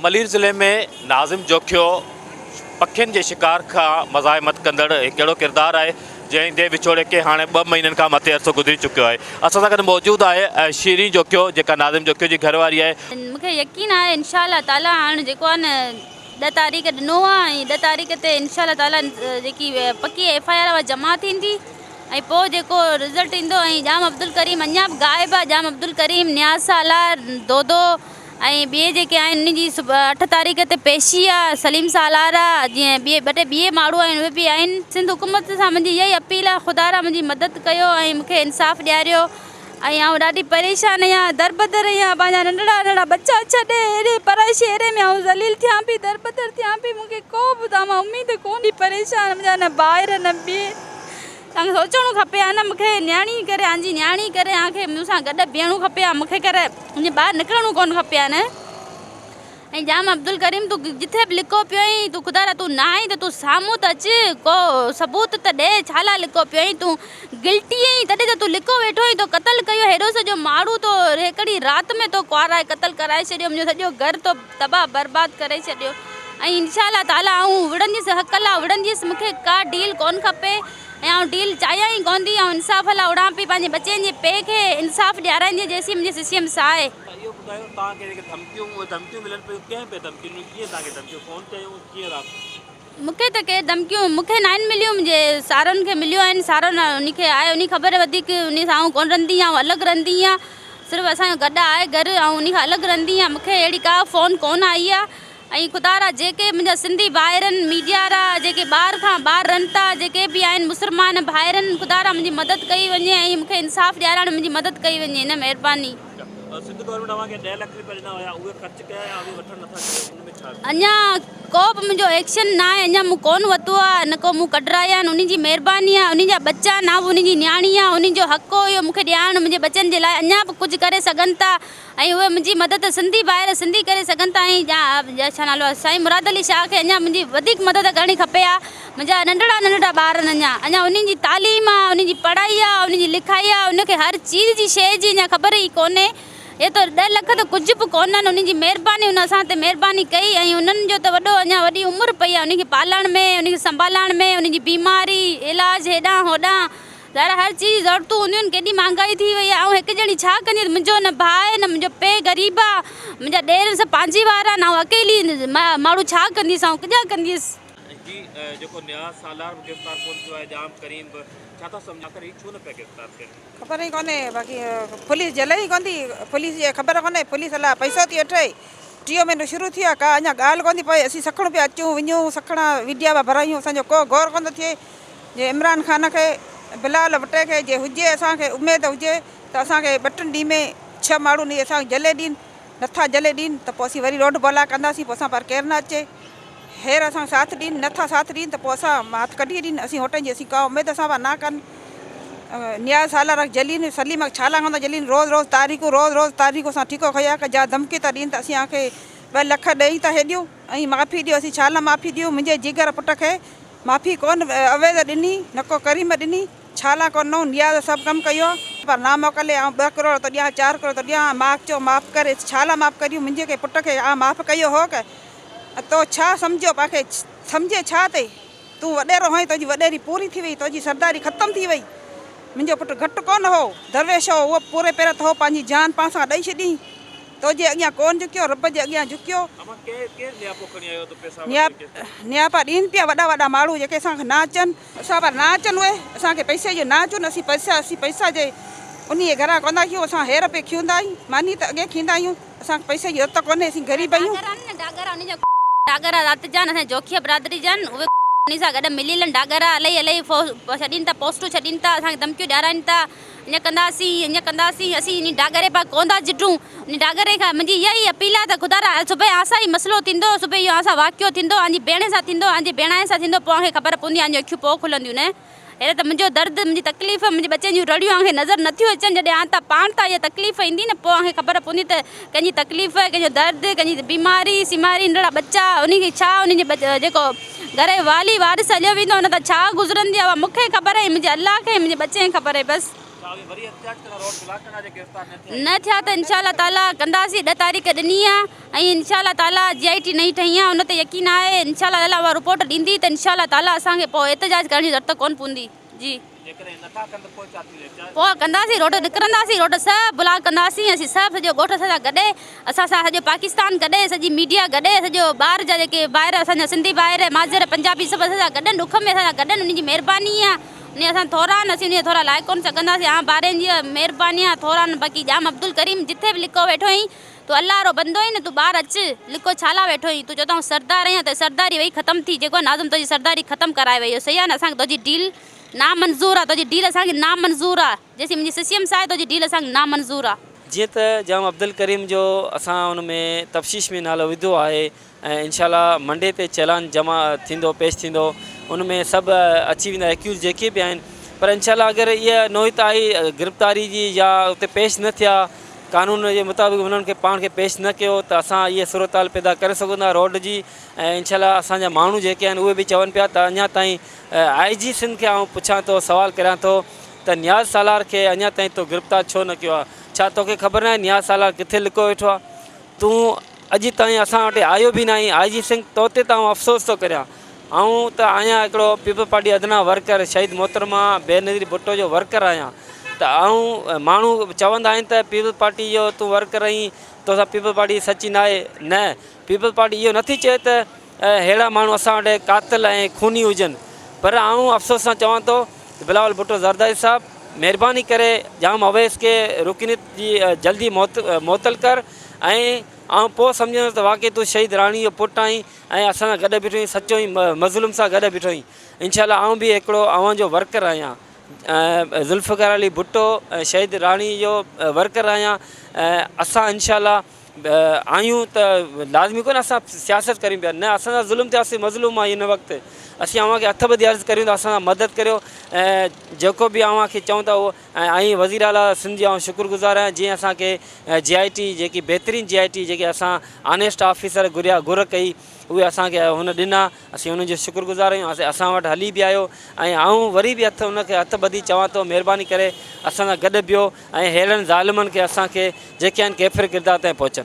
ملير ضلعي ۾ ناظم جوکيو پکين جي شڪار کان مزاحمت ڪندڙ هڪ اهڙو ڪردار آهي جنهن دي وڇوڙي کي هاڻي ٻه مهينن کان مٿي عرصو گذري چڪيو آهي اسان سان گڏ موجود آهي شيرين جوکيو جيڪا ناظم جوکيو جي گهر واري آهي. مون کي يقين آهي انشاء الله تعالي هاڻ جيڪو آهي نه ڏهه تاريخ ڏنو آهي ۽ ڏهه تاريخ تي انشاء الله تعالي جيڪي پڪي ايف آء آر اها جمع ٿيندي ۽ پوء جيڪو رزلٽ ايندو ۽ ڄام عبدالڪريم اڃا به غائب آهي ڄام عبدالڪريم نياز سالار دودو ۽ ٻئي جيڪي آهن انهن جي اٺ تاريخ تي پيشي آ سليم سالار آ جيئن ٻئي ٻه ٽي ٻيئي ماڻهو آهن اهي به آهن سنڌ حڪومت سان منهنجي اها ئي اپيل آ خدا را منهنجي مدد ڪيو ۽ مون کي انصاف ڏياريو ۽ آئون ڏاڍي پريشان اهيان دربدر اهيان پنهنجا ننڍڙا ننڍڙا ٻچا ڇڏي اهڙي پرائي شهري ۾ آئون ذليل ٿيان پي دربدر ٿيان پي مون کي ڪو به تان مان اميد ڪونهي پريشان منهنجا نه ڀائر نه ٻئي. سان سوچڻو کپي ها نه مون کي نياڻي ڪري ها جي نياڻي ڪري ها کي مون سان گڏ بيهڻو کپي ها مون کي ڪري جي ٻاهر نڪرڻو ڪونه کپي ها نه ۽ ڄام عبدالڪريم تون جتي به لڪو پيو آهين تون خدا را تون نه آهين ته تون سامهون ته اچ ڪو ثبوت ته ڏي ڇا لاء لڪو پيو آهين تون گلٽي آهين تڏهن ته تون لڪو ويٺو آهين تو قتل ڪيو هيڏو سڄو ماڻهو تو هڪڙي رات ۾ تو ڪوارائي قتل ڪرائي ڇڏيو منهنجو سڄو گهر تو تباهه برباد ڪري ڇڏيو ۽ انشاء الله تعالي آئون وڙهنديس حق لا وڙهنديس مون کي ڪا ڊيل ڪون کپي ۽ آئون ڊيل چاهيان ئي ڪون ٿي آئون انصاف لا اڙان پئي پنهنجي ٻچين جي پي کي انصاف ڏيارائينديس جيسين منهنجي سي سي ايم ساهي. ۽ اهو ٻڌايو توهان کي جيڪي ڌمڪيون ڌمڪيون ملن پيون ڪنهن پئي ڌمڪين ڏنيون ڪيئن توهان کي ڌمڪيون فون تي آيون ڪيئن رابطو. مون کي ته ڪي ڌمڪيون مون کي ناهن مليون منهنجي سارن کي مليون آهن سارو انهي کي آهي انهي خبر وڌيڪ انهي سان آئون ڪونه رهندي آئون الڳ رهندي آهيان صرف اسان جو گڏ آهي گهر آئون انهي کان الڳ رهندي آهيان مون کي اهڙي ڪا فون ڪونه آئي آهي ۽ خدا را جيڪي منهنجا سنڌي ڀائرن ميڊيا را جيڪي ٻار کان ٻار رهن ٿا جيڪي به آهن مسلمان ڀائرن خدا را منهنجي مدد ڪئي وڃي ۽ مون کي انصاف ڏيارائڻ ۾ منهنجي مدد ڪئي وڃي نه مهرباني. اڃا ڪو به منهنجو ايڪشن ناهي اڃا مون ڪون وتو آ نه ڪو مون ڪڍرايا آهن انهن جي مهرباني آ انهن جا ٻچا نه به انهن جي نياڻي آ انهن جو حق هو اهو مون کي ڏيارڻ منهنجي ٻچن جي لاء اڃا به ڪجهه ڪري سگهن ٿا ۽ اهي منهنجي مدد سنڌي ڀائر سنڌي ڪري سگهن ٿا ۽ سائين مراد علي شاهه کي اڃا منهنجي وڌيڪ مدد ڪرڻي کپي آ. منهنجا ننڍڙا ننڍڙا ٻار آهن اڃا اڃا انهن جي تعليم آ انهن جي پڙهائي آ انهن جي لکائي آ انهن کي هر چيز جي شيء جي اڃا خبر ئي ڪونهي هي ته ڏهه لک ته ڪجهه به ڪونهن انهن جي مهرباني هن اسان تي مهرباني ڪئي ۽ انهن جو ته وڏو اڃا وڏي عمر پئي آ انهن کي پالڻ ۾ انهن کي سنڀالڻ ۾ انهن جي بيماري علاج هيڏانهن هوڏانهن ظاهر هر چيز جي ضرورتون هونديون آهن ڪيڏي مهانگائي ٿي وئي آ آئون هڪ ڄڻي ڇا ڪندي ته منهنجو نه ڀاء آهي نه منهنجو پي غريب آ منهنجا ڏير سڀ پنهنجي وارا آهن آئون اڪيلي ماڻهو ڇا ڪنديس آئون ڪجا ڪنديس. جي جيڪو نياز سالار به گرفتار ڪونه ٿيو آهي ڄام ڪريم به ڇا ٿا سمجهن آخر هي ڇو نه پيا گرفتار ٿين. خبر ئي ڪونهي باقي پوليس جيل ئي ڪون ٿي پوليس جي خبر ڪونهي پوليس الاء پئسو ٿي وٺي ٽيون مهينو شروع ٿيو آهي ڪا اڃا ڳالهه ڪون ٿي پوي اسين سکڻ پيا اچون وڃون سکڻا ويڊيا پيا ڀرايون اسان جو ڪو غور ڪون ٿو ٿئي جي عمران خان کي بلال ڀٽي کي جي هجي اسان کي اميد هجي ته اسان کي ٻه ٽن ڏينهن ۾ ڇهه ماڻهو ني اسان کي جهلي ڏين نٿا جلي ڏين ته پوء اسين وري روڍ بولا ڪنداسين پوء اسان پار ڪير نه اچي هير اسان کي ساٿ ڏين نٿا ساٿ ڏين ته پوء اسان مان هٿ ڪڍي ڏين اسين هوٽن جي اسين ڪا اميد اسان پار نه ڪن نياز سالار اک جلين سليم اک ڇالا هوندا جلين روز روز تاريخون روز روز تاريخون اسان ٺيڪو کيا ڪا جا ڌمڪي ٿا ڏين ته اسين کي ٻه لک ڏئي ته هي ڏيو ۽ معافي ڏيو اسين ڇالا معافي ڏيون منهنجي جيگر پٽ کي معافي ڪون اويز ڏني نه ڪو ڪريم ڏني. ڇا لاء ڪو نو نياز سڀ ڪم ڪيو پر نا موڪلي آئون ٻه ڪروڙ ٿو ڏيان چار ڪروڙ ٿو ڏيان ماڳ چئو معاف ڪري ڇا لاء معاف ڪريون منهنجي ڪنهن پٽ کي آئون معاف ڪيو هو ڪه تو ڇا سمجهيو پا کي سمجهي ڇا تي تون وڏيرو هئين تنهنجي وڏيري پوري ٿي وئي تنهنجي سرداري ختم ٿي وئي منهنجو پٽ گهٽ ڪونه هو درويش هو اهو پوري پير تهو پنهنجي جان پا سان ڏئي ڇڏيئين تنهنجي اڳيان ڪونه جهڪيو رب جي اڳيان جهڪيو نياپا ڏين پيا وڏا وڏا ماڻهو جيڪي سان کي نا اچن. اسان پر نه اچن اهي، اسان کي پئسي جو نه اچن، اسين پئسا، اسين پئسا جي انهيء گهران ڪونه آهيون، اسان هير پئي کيندا آهيون، ماني ته اڳي کيندا آهيون، اسان کي پئسي جي رت ڪونهي، اسين غريب آهيون. ڊاگرا ۽ ڊاگرا انهن جا ڊاگرا ذات جا آهن، اسان جي جوکيء برادري جا آهن، اهي انهن سان گڏ مليل آهن، ڊاگرا الهي الهي ڦوهه ڇڏين ٿا، پوسٽون ڇڏين ٿا، اسان کي ڌمڪيون ڏيارائين ٿا، ايئن ڪنداسين، ايئن ڪنداسين، اسين انهي ڊاگري پاء ڪوندا جٽون، انهي ڊاگري کان منهنجي اها ئي اپيل آهي ته خدا را صبح آء سان ئي مسئلو ٿيندو، صبح اهو آء سان واقعو ٿيندو، آء جي ڀيڻ سان ٿيندو، آء جي ڀيڻائي سان ٿيندو، پوء آء کي خبر پوندي، آء جون اکيون پوء کلنديون نه. هينئر ته منهنجو درد، منهنجي تڪليف، منهنجي ٻچن جون رڙيون آء کي نظر نه ٿيون اچن، جڏهن آء تان پاڻ تان اها تڪليف ايندي نه، پوء آء کي خبر پوندي ته ڪنهن جي تڪليف، ڪنهن جو درد، ڪنهن جي بيماري، سيماري، ننڍڙا ٻچا، انهن کي ڇا، انهن جي جيڪو گهر جو والي، وارث هليو ويندو ان تان ڇا گذرندي آهي اها مون کي خبر اهي منهنجي الله کي، منهنجي ٻچي کي خبر اهي بس. نه ٿيا ته انشاء الله تعاليٰ ڪنداسين ڏهه تاريخ ڏني آهي ۽ انشاء الله تعاليٰ جي آء ٽي نئين ٺهي آهي ان تي يقين آهي انشاء الله تعاليٰ اها رپورٽ ڏيندي ته انشاء الله تعاليٰ اسان کي پوء احتجاج ڪرڻ جي ضرورت ڪونه پوندي. جي جيڪڏهن نٿا ڪن ته پوء ڇا ٿي ويندو؟ پوء ڪنداسين روڊ نڪرنداسين روڊ سڀ بلاڪ ڪنداسين اسين سڀ سڄو ڳوٺ اسان سان گڏ اسان سان سڄو پاڪستان گڏ سڄي ميڊيا گڏ سڄو ٻاهر جا جيڪي ڀائر اسان جا سنڌي ڀائر ماضر پنجابي سڀ اسان سان گڏ ڏک ۾ اسان سان گڏ انهن جي مهرباني آ انهن اسان ٿورا آهن اسين انهن ٿورا لائي ڪونه سگهنداسين آ ڀائرن جي مهرباني آ ٿورا آهن باقي ڄام عبدالڪريم جتي به لڪو ويٺو اهين تو الله رو بندو آهين تون ٻاهر اچ لڪو ڇالا ويٺو آهين تون چوٿائون سردار آهين تنهنجي سرداري وئي ختم ٿي جيڪو ناظم تنهنجي سرداري ختم ڪرائي ويو سيان اسان کي تنهنجي ڊيل نامنظور آ تنهنجي ڊيل اسان کي نامنظور آ جيسين منهنجي سسيم ساهي تنهنجي ڊيل اسان کي نامنظور آ. جيئن ته جام عبدالڪريم جو اسان ان ۾ تفشيش ۾ نالو وڌو آهي ۽ انشاء الله منڊي تي چيلان جمع ٿيندو پيش ٿيندو ان ۾ سڀ اچي ويندا ايڪيوز جيڪي به آهن پر انشاء الله اگر اها نوعيت آئي گرفتاري جي يا اتي پيش نه ٿيا قانون جي مطابق انهن کي پاڻ کي پيش نه ڪيو ته اسان اهي صورتحال پيدا ڪري سگهون ٿا روڊ جي ۽ انشاء الله اسان جا ماڻهو جيڪي آهن اهي به چون پيا ته اڃا تائين آء جي سنڌ کي آئون پڇان ٿو سوال ڪريان ٿو ته نياز سالار کي اڃا تائين تو گرفتار ڇو نه ڪيو آهي ڇا توکي خبر ناهي نياز سالار ڪٿي لڪو ويٺو آهي تون اڄ تائين اسان وٽ آيو به ناهي. آء جي سنگهه تو تي ته آئون افسوس ٿو ڪريان. آئون ته آهيان هڪڙو پيپلز پارٽي ادنيٰ ورڪر، شهيد محترمه بينظير ڀٽو جو ورڪر آهيان ته آئون ماڻهو چوندا آهن ته پيپلز پارٽي جو تون ورڪر آهين، توسان پيپلز پارٽي سچي ناهي. نه پيپلز پارٽي اهو نٿي چئي ته. اهڙا ماڻهو اسان وٽ قاتل ۽ خوني هجن پر آئون افسوس سان چوان ٿو ته بلاول ڀٽو زرداري صاحب مهرباني ڪري ڄام اويس کي رڪنيت جي جلدي معطل ڪر ۽ آئون پوء سمجهندس ته واقعي تون شهيد راڻي جو پٽ آهين ۽ اسان سان گڏ بيٺو آهين سچو ۽ مظلوم سان گڏ بيٺو آهين انشاء الله آئون به هڪڙو اوهان جو ورڪر آهيان ذوالفقار علي ڀٽو ۽ شهيد راڻي جو ورڪر آهيان ۽ اسان انشاء الله آهيون ته لازمي ڪونهي اسان سياست ڪريون پيا نه اسان سان ظلم ٿيو اسين مظلوم آهيون هن وقت اسين اوهان کي هٿ ٻڌي عرض ڪريون ٿا اسان سان مدد ڪريو ۽ جيڪو به اوهان کي چون ٿا اهو ۽ وزير اعليٰ سنڌ جي آئون شڪر گذار آهيان جنهن اسان کي جي آء ٽي جيڪي بهترين جي آء ٽي جيڪي اسان آنيسٽ آفيسر گهريا گهر ڪئي اهي اسان کي هن ڏنا اسين ان جو شڪر گذار آهيون ۽ اسان وٽ هلي به آيو ۽ آئون وري به هٿ ان کي هٿ ٻڌي چوان ٿو مهرباني ڪري اسان سان گڏ بيهو ۽ ههڙن ظالمن کي اسان کي جيڪي آهن ڪيفر ڪردار تائين پهچن.